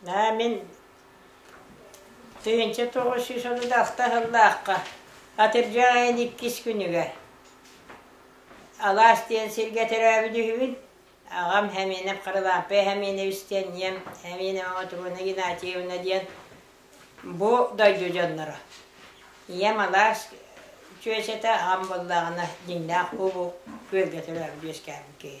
Аа мин тыһыынча тоҕус сүүс одудааста сыллаахха атырдьа айан иккис күнүгэр алаас диэн сиргэ төрөөбүт үһүбүн аҕам Хәминов Харылаампа Хәминевич диэн ийэм Хәминова Мотуруна Геннадьевна диэн бу дойду дьонноро ийэм алаас чүөчэтэ аҕам буоллаҕына дьиҥнээх куобу күөлгэ төрөөбүт үөскээбит киһи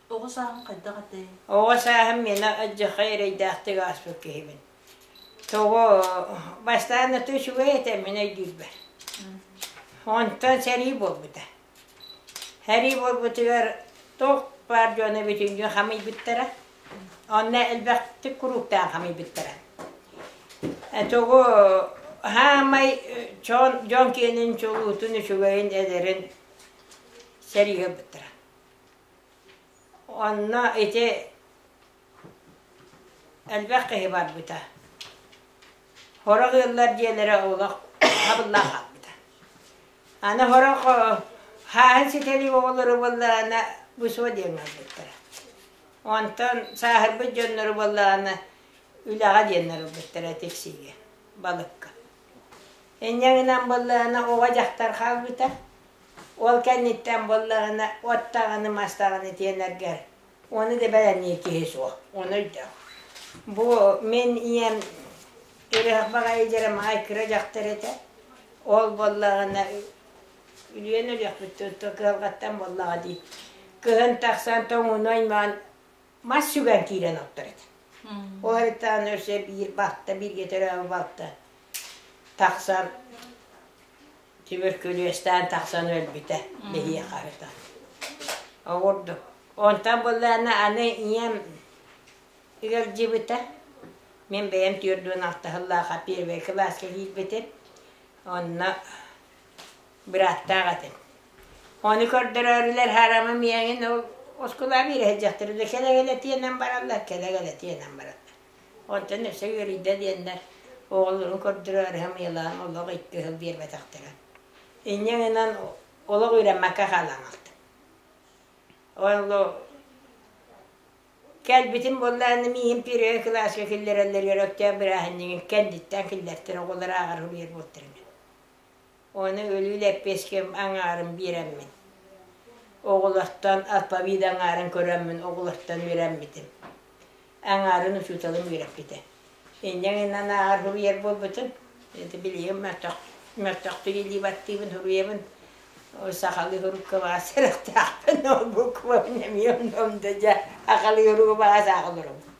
Оҕо сааһым хайдах этэй? Оҕо сааһым мина дьохо эрэйдээхтик ааспыт киһибин. Тоҕо бастаан өтө үчүгэй этэ мин өйдүүрбэр. Онтон сэрии буолбута. Сэрии буолбутугар тоқ баар дьону бүтүнгү хамыйбыттара. Онно элбэхтик курууктаан хамыйбыттара. Тоҕо хаамай чон дьон киэнин чулуутун үчүгэйин эдэрин сэрии быттара. Онно ити элбэх киһи барбыта. Хорох ыаллар диэнэрэ олох хабыллаах хаалбыта. Аны хорох хааһын ситэри оҕолору буоллаҕына бусуо диэн ылбыттара. Онтон сааһырбыт дьоннору буоллаҕына үлэҕэ диэн ылбыттара тиксиигэ, балыкка. Инньэ гынан буоллаҕына оҕо дьахтар хаалбыта. Ол кэнниттэн буоллаҕына, от даҕаны-мастаҕаны тиэнэргэр ону да бэлэмниир киһи суох. Ону өйдөөх. Бу мин ийэм үрэх баҕайыдьара маай кыра дьахтар этэ. Ол буоллаҕына, үлүйэн өлүөхпүттэн то кыһалҕаттан буоллаҕа дии. Кыһын тахсан тоҥууну аймаан мас сүгэн киирэн охтор этэ. Ол эрээри өссө биир балта, бииргэ төрөөбүт балта тахсан Тимиркүлүөстээн тахсан өлбүтэ лэһиэхэ ата. Оҕурду. Онтон быллаана аны ийэм ыалдьыбыта. Мен бэйэм түөрдүн алтаһыллаах первый кылааска киирбитим. Онно быраттаах этим. Оны көрдөрөрүлэр харама миэҥин ол оскула биирэһэ дьахтар да кэлэгелэ тиэнэн бараллар, кэлэгелэ тиэнэн бараллар. Онтон өссө үөрүйдэ диэннэр оҕолорун көрдөрөөрү хамыйалаан олох икки сыл биэрбэтэхтэрэ. Инньэ гынан олох үөрэммэккэ хаалаамахтым. Ону кэлбитим буолла аны миигин первый кылааска киллэрэллэр Өрөктөөх бырааһынньыгын кэнниттэн киллэртэр оҕолор ааҕар суруйар буолтар Ону өлүү лэппиэским аҥаарын биэрэммин, оҕолортон алфавит аҥаарын көрөммүн оҕолортон үөрэммитим. Аҥаарын учууталым үөрэппитэ. Инньэ гынан ааҕар суруйар буолбутум. Ити билигин мөлтөх мөлтөхтүк илии баттыыбын суруйабын. Ол сахалыы сурукка баҕа сэрэхтээхпин, ол буквабын эмиэ онно да дьэ, сахалыы сурууга баҕа саахаларым.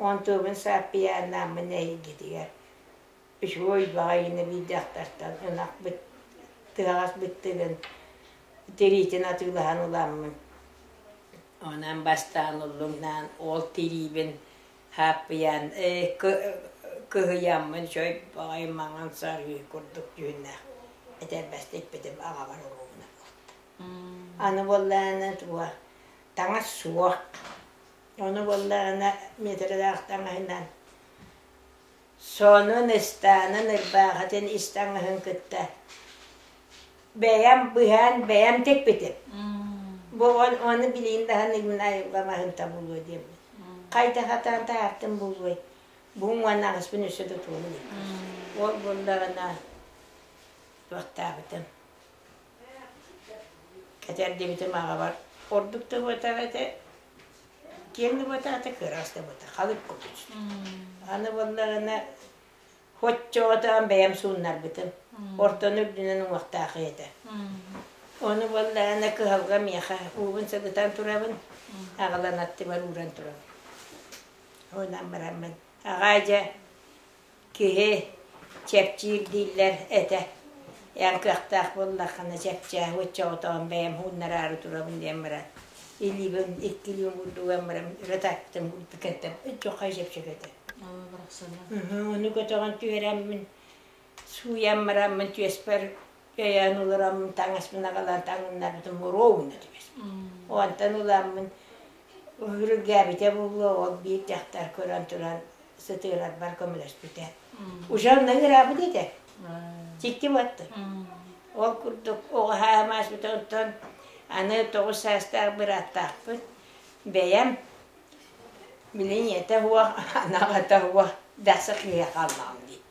Уон тыабын сааппыйааннааммын эһигитигэр үчүгэй баҕайыны биэрдэхтэртэн ынахбыт тыаҕас быттыгын тириитин атыылаһан уламмын онон бастаан уллуҥнаан ол тириибин ааппыйаан кыһыйаммын чой баҕайы маҥан сарыы курдук дьүһүннээх этэрбэстиппитим аҕабар уруубуна аны буоллаанан туга таҥас суох Ону буллаҕына Митралаах таҥаһынан, сонун ыстаанын ырбаахытын ис таҥаһын кытта бэйэм быһаан бэйэм тикпитим. Бу он ону билиин даһан Игнаевга маһын табулуо диэммит. Хайда хатаан таартым булуой. Бу уонаҕаспын үсө тутуон диэбит. Ол буллаҕына вахтаабытым. Этэр диэбитим аҕабар, ордук да убатар этэ, киэҥ убатаата, кыраас да убата, халык кутуч. Аны буоллаҕына, хоччоҕотоон бэйэм сууннарбытым. Ортону үрдүнэн уҥуохтаах этэ. Ону буоллаҕына, кыһалга миэхэ уубун сыгытан турабын, аҕалан аттыбар ууран турабын. Онон бараммын, аҕаа дьэ, Киһи чэпчиир дииллэр этэ. Эн кыахтаах буоллаххына чэпчээбит чоҕотоҕун бэйэм хууннараары турабын диэн баран илиибин иккилиин курдуган баран ырытаттым кытаттым өччөххө чэпчэки этэ. Оо барахсана. Ону көтөҕөн түһэриммин сууйан бараммын түөспэр Кэйээн олороммун таҥаспын агалан таҥыннарбытым муроо гына түбэс. Онтон уламмын үрүгээбитэ булла ол биир дьахтар көрөн туран сытыырарбар көмөлөспүтэ. Уже онно ыраабыт этэ. Тикти баттын. Ол курдук оҕаһаа маасбыта онтон аны тоҕус саастаах бырааттаахпыт бэйэм билин ийэтэ хуох анаҕата хуох бэхсэ киһи хааллаҕым дии.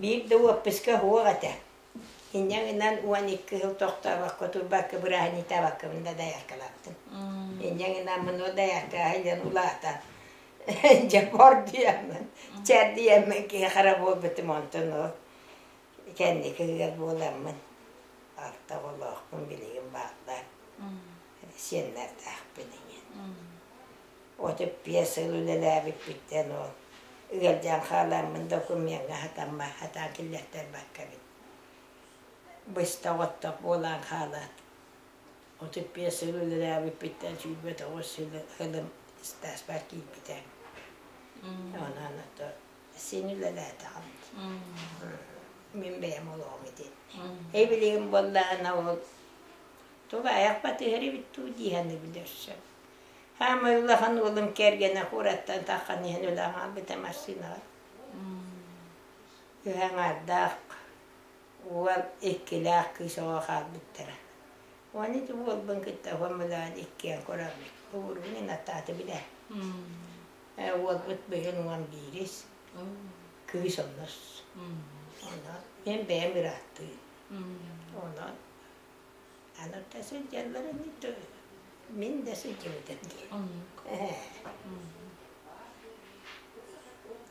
Биир да уоппуска суох этэ. Инньэ гынан уон икки сыл тохтообокко, турбакка бырааһынньытаабаккабын да дайаркалаабытым. Инньэ гынан мину дайаркаҕа илдьэн улаатан, дьопордуйаммын, чэрдийэммин киһи хара буолбутум онтуну кэнникигэр буоламмын алта оҕолоохпун билигин бааллар. Сиэннэрдаахпын иҥин. Отут биэс сыл үлэлээбиппиттэн ол ыалдьан хаалааммын докумуоҥҥа сатаммат сатаан киллэртэрбакка эбит. Быстах-оттох буолан хаалаат, отут биэс сыл үлэлээбиппиттэн сүүрбэ тоҕус сылым стажпар киирбитэ. Онон ото син үлэлээтэҕим. Мин бэйэм олоҕум ити. Эбилигим буоллаҕына ол тугу айах батыһар эбит дуу дии саныы билэрсэм. Хаама улахан уолум кэргэнэ Хураттан таххан иһэн өлөөн хаалбыта массыынаҕа. Үһэҥ ардаах уол иккилээх кыыс оҕо хаалбыттара. Уон ити уолбун кытта хомулаан иккиэн көрөммүт. Уургунин аттааты билэ. Уолбут быйын уон биирис. Кыыс оннос. Онон мен бэйэм ырааттыы. Онон Аларга сылдьаллар ини мин да сылдьыбытым дии.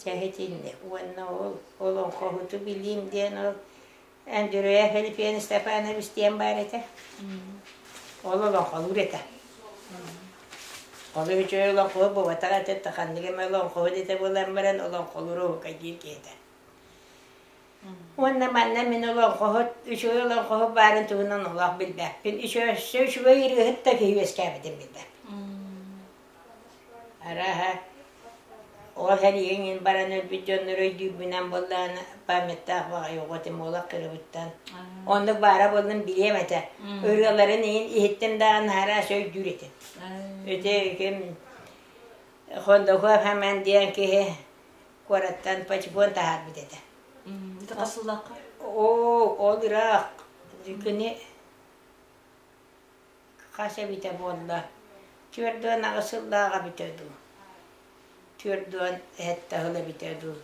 Чэһитинни уонна ол олоҥхоһуту билиим диэн ол Андрея Халифеевна Степанович диэн баар этэ. Ол олоҥхолуур этэ. Ол үчүгэй олоҥхоһу бубатар аты ханнык эмэ олоҥхоһу дэтэ буолан баран олоҥхолуур оһука диир киһитэ. Уонна манна мин олоҥхоһут, үчүгэй олоҥхоһут баарын туһунан олох билбэппин. Үчү өссө үчүгэй ырыаһыт да киһи үөскээбитин билбэппин. Араһа ол эрийиҥин баран өлбүт дьоннор өйдүүрбүнэн буоллаана памяттаах баҕайы оҕотим олох кырыбыттан. Оннук баара боллун билиэм этэ. Ырыаларын иһин иһиттэн даҕан хараас өйдүүр этин. Ити ким Хондоков Хаман диэн киһи куораттан почбон таһаарбыт этэ. Тата сыллаахха? Оо, ол ыраах. Күні хас эбитэ буолла? Түөрдүөн аҕыс сыллааҕа бүтэ дуу? Түөрдүөн эһэтте ыла бүтэ дуу?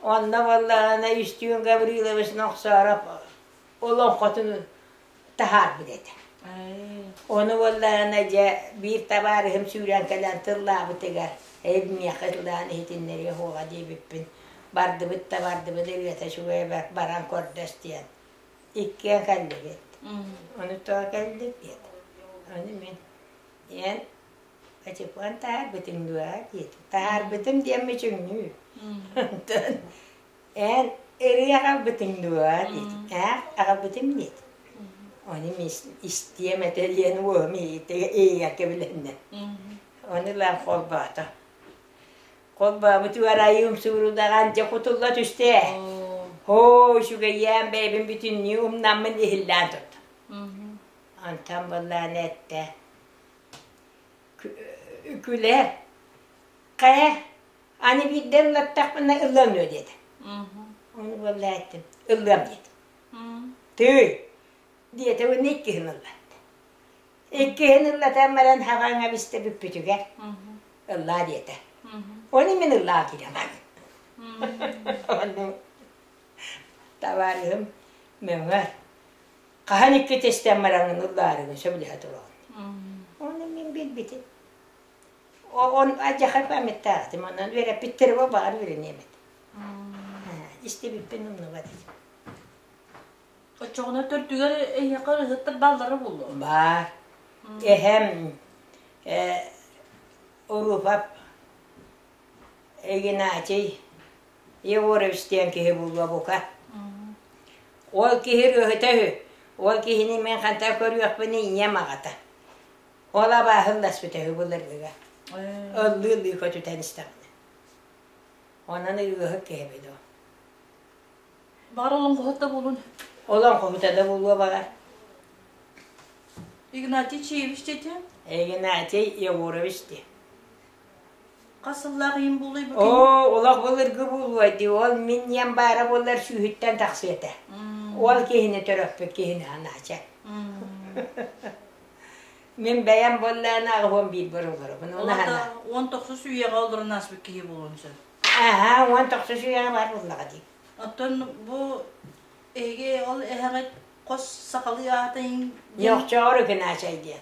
Онно боллаана Үстүүн Гаврилович Нохсоров олоҥхотун таһаарбыт этэ. Ону буоллаана дьэ биир табаарыһым сүүрэн кэлэн тыллаабытыгар эбмиэхэ тылаан иһитиннэриэ хуоҕа диэбиппин бардыбыт да бардыбыт ырыата үчүгэй баран көрдөс диэн иккиэн кэллибит. Онутоо кэллик диэт. Аны мин диэн Качапан таһаарбытым дуо диэтим. Таһаарбытым диэмми чүҥнүү. Онтон Эн ырыа аҕалбытыҥ дуо диэтим. Ээ, аҕалбытым диет. Ону истиэм этэ диэн уоһум иһигэр кэбилэннэ. Ону ылан холбоото. Холбообут уорайы умсуурудаҕан дьэ кутулла түсте. Һоо, сүгэйээн бэйбин бүтүннүү умнаммын иһиллээн турда. Антан буллаан этте. Күлэ, хайа, Аны биирдэ ыллаттахпына ылыам дуо диэтэ. Оны буолла эттим, ылыам диэтим. Тыы, диэтэ уонна иккиһин ыллатта. Иккиһин ыллатан баран хабаҥа бистэ бүппүтүгэр ыллаа диэтэ. Оны мин ыллаа киирэмэм. Ону табаарыһым мөҥө хаһан икки тестен бараҥын ыллаарыгын сөбүлэһэ туран. Оны мин билбитим. Он адьаха памяттаахтым, онон үөрэппиттерима баҕар үөрэниэбит. Истибиппин умнубат этим. Оччоҕуна төрдүгэр эйиэхэ ырыһыттар баллара буолуо. Баар. Эһэм э, Урупап Игнатий Егорович диэн киһи булуо бука. Ол киһи ырыһыта үһү. Ол киһини мен ханта көрүөхпүн ийэм аҕата. Ол абааһым да сүтэһи былыргыга. Ыллыы-ыллыы көтүтэн истэҕинэ. Онон ыйыыһык киһи билэ. Бар олоҥхоһут да булун. Олоҥхоһута да булуо барар. Игнатий Чиевич дети? Игнатий Егорович де. Оо, олох былыргы буолуой дии, ол мин диэн баара буоллар сүүһүттэн тахсыа этэ. Ол киһини төрөппүт киһини анаача. Мин бэйэм буоллаана аҕыһон биир боруларыбын. Олата он тохсус үйэҕэ олорон аспыт киһи болон сөп. Аа, он тохсус үйэҕэ бар буллаҕа дии. Оттон бу эге ол эһэҕит хос сахалыы аатын Йохчоор үкүн аачай диэн.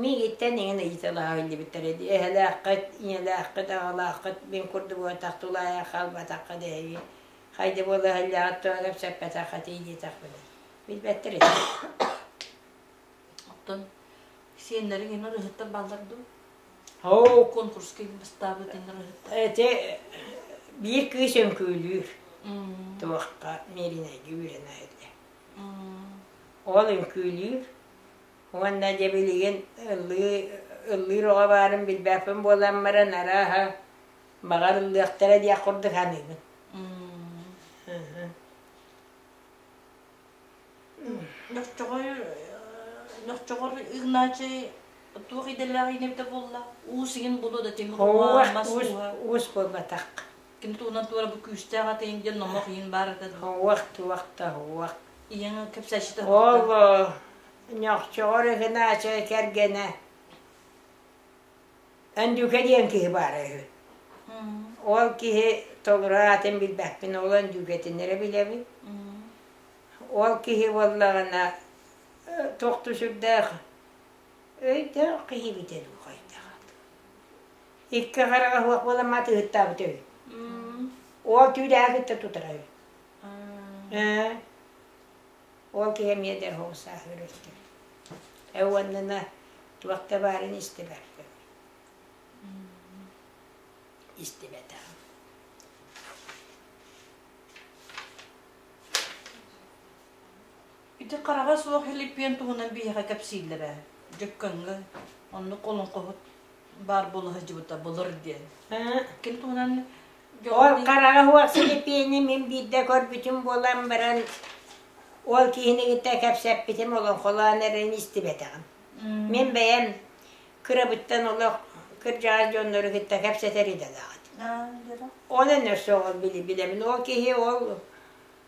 Миигиттэн иҥин ыйыталаах биллибиттэр edi эһэлээххит, ийэлээххит, аҕалааххыт мин курдук буолтах тулаайах хаалбатахха дэһиги хайда буола иһэллээҕит туһа кэпсэппэтэх этий диэтэхпинэ билбэттэр ити оттон сиэннэриҥ ини ырыһыттар бааллар дуу оо конкурска бастаабыт ини ырыһыттар ити биир кыыс өҥкүүлүүр туохха Мииринэйгэ үөрэнэ эрдэ ол өҥкүүлүүр Уонна дьэ билигин ыллыы, ыллыыр оҕо баарын билбэппин буолан баран, арааһа, баҕар ыллыахтара диэх курдук саныыбын. Нохчоҕор нохчоҕор Игнатий туох идэлээх инэбитэ буолла? Уус игин булу да тиһи Уус, уус, уус буолбатах. ким туунан туора бу күүстээх атыйын диэн номох иин баар этэ уах туахта уах иен кепсащита оло ньохчоҕор ыкынаача кэргэнэ Андюка диэн киһи баара үһү ол киһи толураатын билбэппин ол андюкэтинэрэ билэбин ол киһи буоллаҕына тохту сүрдээх өйдөөх киһи битэ дуу хайдах икки хараҕа суох буолан матыыттаабыт үһү. Ол түүлээх кытта тутара үһү. Ээ. Ол киһи эмиэ да оһоҕу саах өлөртө. Э уонна туохта баарын истибэр. Истибэтэ. Ити хараҕа суох илиппиэн туһунан биһиэхэ кэпсииллэрэ. Дьөккөҥҥө оннук олоҥхоһут баар буола сылдьыбыта былыр диэн. Ким туһунан Ол хараҕа суох силипиэни мин биирдэ көрбүтүм буолан баран ол киһинигитэ кэпсэппитим олоҥхолоон эрэн истибэтэҕим. Мин бэйэм кырабыттан олох кырдьаҕас дьоннору кытта кэпсэтэр идэлээҕим. Онон өссө ол били билэбин. Ол киһи ол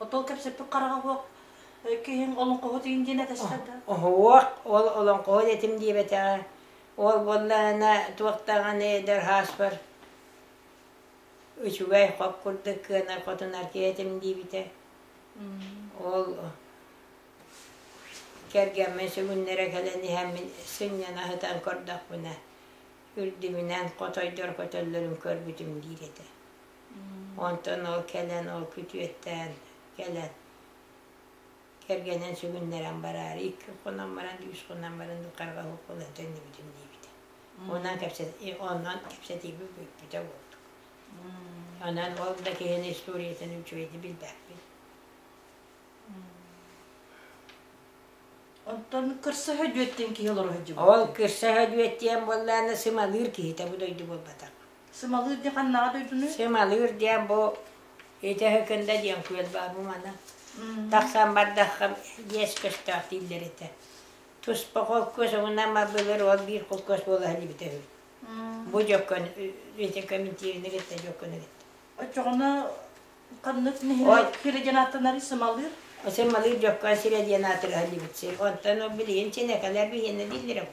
Отол кепсеппик қарағауық киһин олоҥхоһут иин диэн этэстэрдэ. Оһуо, ол олоҥхоһут этим диэбэтэҕэ. Ол буоллаана туохтаҕаны эдэр хааспар үчүгэй хоп курдук кыана хотунар киэтим диибитэ. Ол кэргэммин сүгүннэрэ кэлэн иһэммин сынньана сытан көрдөхпүнэ үрдүмүнэн хотойдор көтөллөрүн көрбүтүм диир этэ. Онтон ол кэлэн ол күтүөттээн кэлэн кэргэнин сүгүннэрэн бараары икки хонон баран үс хонон баран харҕаһык булан төннүбүтүм диэбитэ. Онон кэпсэти онон кэпсэтииби бүппүтэ буолдuk. Онон ол да киһини историятын үчүгэйдик билбэппин. Оттон кырсыһа дьүөттэн киһи олоро сылдьыбыт. Ол кырса өдүөттиэн буоллаана сымалыыр киһитэ бу дойду буолбатах. Сымалыыр диэн ханнаҕа дойдуну? Сымалыыр диэн бу итэ кында диэн күөл баар бу мана. Тахсан бардаххам иэс көстөөх дииллэр итэ. Туспа холкуос угунан мабылыр ол биир холкуос буола билбитэ үһү. Бу жоккон ите комментиринер итэ жоккон ит. Очоҕуна ханнык нэһилик кириден аттанары сымалыыр? Сымалыыр жоккон сире диэн атырыһан дибит сир. Онтон ол билиин синекалар биһиэнэ дииллэрэ бу.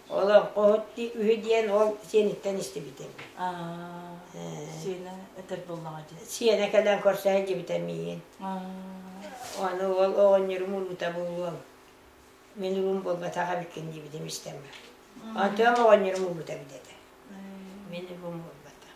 Олоҥхо үһү диэн ол сиэниттэн истибитим. Сиэнэ өтөр буллаҕа дии. Сиэнэ кэлэн көрсө иһдибитэ миигин. Ону уол оҕонньорум уута буолуол. Мин уум буолбатах эбиккин диибитим истэмэ. Антоом оҕонньорум уута бидэтэ. Мин уум буолбатах.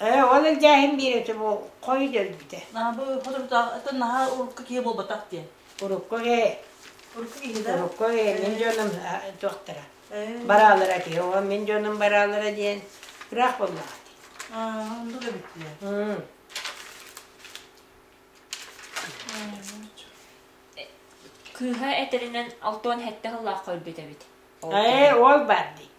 Ээ, ол элдээһин биэрэтэ бу хой өлбүтэ. Наһы хотурутаах ытын наһа урукку киһи буолбатах диэн. Урукку ээ, Урукку киһи да. урукку ээ, мин дьонум туохтара. Бараалара киһи, о мин дьонум бараалара диэн ыраах буоллаҕа дии. Онду да бүттүлэр. М. Кыыһа этэринэн алтан сэттэ сыллаах өлбүт эбит. Ээ, ол бар дии.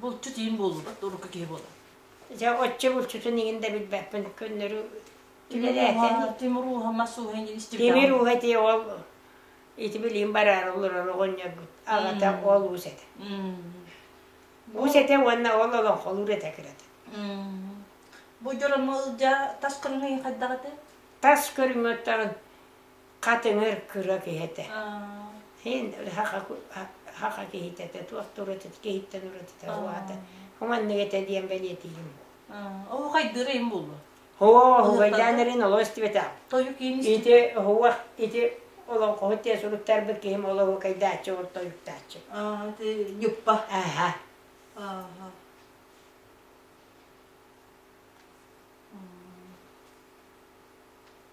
Булчут иин булбут урукку киһи буолар. Дьэ, оччо булчутун иҥин да билбэппин, көннөрү үлэлээтэ. Тимур ууһа мас ууһа инилистибдэ. Тимир ууһа тиэ ол ити билиим бараар олорор оҕонньорбут. Аҕата ол уус этэ. Уус этэ уонна ол олоҥхолуур этэ кырата. Бу дьорому ылдьа тас көрүҥэ хайдаҕыты? Тас көрүҥөттөҕүн хат өҥөр кыра киһи этэ. Иһин хаха киһитэ этэ, туох туратыт, киһиттэн уратыта уһаата. Уманнык этэ диэн бэлиэтиим. Оо, хайдырыйым булбу. Оо, угайдаан эрин олоо истибэтэ. Тойу киин Ити уһуах, ити олоҥхоһут те суруттарбыт киһим олоһу кайдааччы ортойуктааччы. Аа, ты нюппа. Аха. Аха.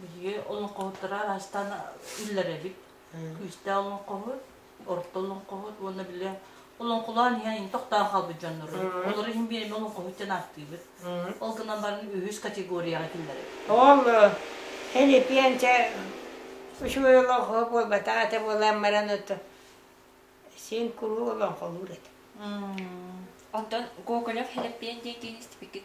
Биһиги олоҥхоһуттара араастаан үллэр эбит. Күүстээх олоҥхоһут, орто олоҥхоһут уонна били олоҥхолоон иһэн ин тохтоон хаалбыт дьоннору. Олору иһин биэрэми олоҥхоһут диэн ааттыыбыт. Ол гынан баран үһүс категорияҕа киллэр эбит. Ол Филиппиэнчэ үчүгэй олоҥхо буолбатах ate буолан баран отто син куруу олоҥхолуур этэ. Онтон Гоголев Филиппиэн диэкиин истипиккит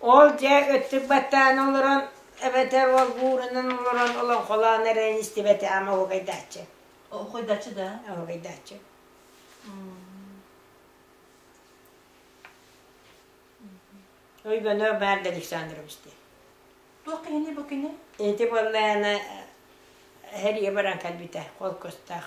Ол дьэ өттүк баттаан олорон эбэтэр ол уурунан олорон олоҥхолоон эрэн истибэтэ ама уругайдааччы. Уругайдааччы да? Уругайдааччы. Ойгонор баар да Александрович диye. Туох киһини бу кини? Ити буоллаана хәрийэ баран кэлбитэ қол көстөөх.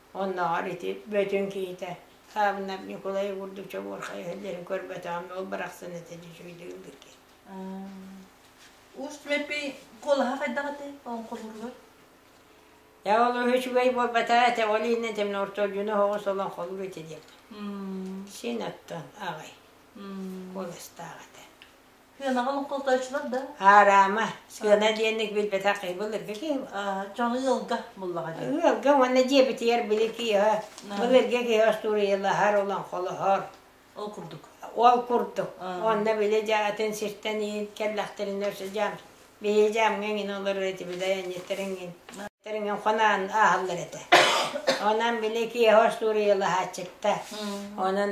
Оннооҕор ити бөтүн киһитэ Савнов Ньукулай курдук чобуорхай сылдьарын көрбөтөҕүм, ол барахсан ити үчүгэйдик ыллыгын. Уус түмэппий куолаһа хайдах аты оҥхолуругар? Я ол үчүгэй буолбата эте ол иннен темно ортолдюну хоҕус олон холук ити диэн. Син оттон аҕай. Куоластаах этэ. Сыанаҕын охтотоочулар да? Аараама. Сыана диэнник билбэтэх кыйбыл эргэ киһи. Дьон ыалга буллаҕа дии. Ыалга уонна дьиэбитигэр били киһи был эргэ киһи остуоруйалаһар, олоҥхолоһор. Ол курдук. Ол курдук. Онно били дьэ атын сиртэн иһин кэллэхтэринэ өссө дьаам бэйэ дьаамҥа иҥин олорор этэ били айанньыттарыҥҥын тэриҥҥин хонаан ааһаллар этэ. Онон били киһи остуоруйалаһааччытта. Онон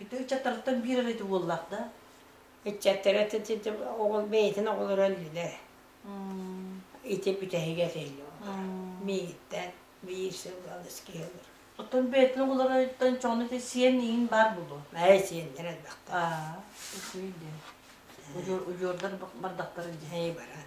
Ити ыччаттарыттан биир эрэ ити уоллаах да? Ыччаттара оҕол бэйэтин оҕолоро өллүлэр. Ити бүтэһигэ этиллэр. Мииттэн биир сыл алыс киһи ылыр. Оттон бэйэтин оҕолоруттан чоҕуна ити сиэн иҥин баар булуо. Ээ, сиэннэр элбэхтэ. Аа, үчүгэй диэн. Удьуордар бардахтарын дьэһэйэ баран.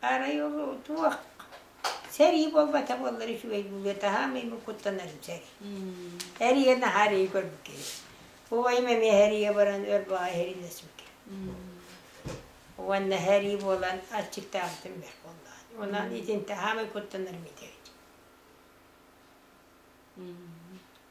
Арай ол туох сэрии буолбата буоллар үчүгэй буолуо таһаам имин куттанар сэрии эрийэ наһаа эрийэ көрбүккэ убайым эмиэ эрийэ баран өр баҕа эринэсбикэ уонна эрий буолан аччыктаабытым бэр буоллаан онон итинтэ хаамай куттанар митэбит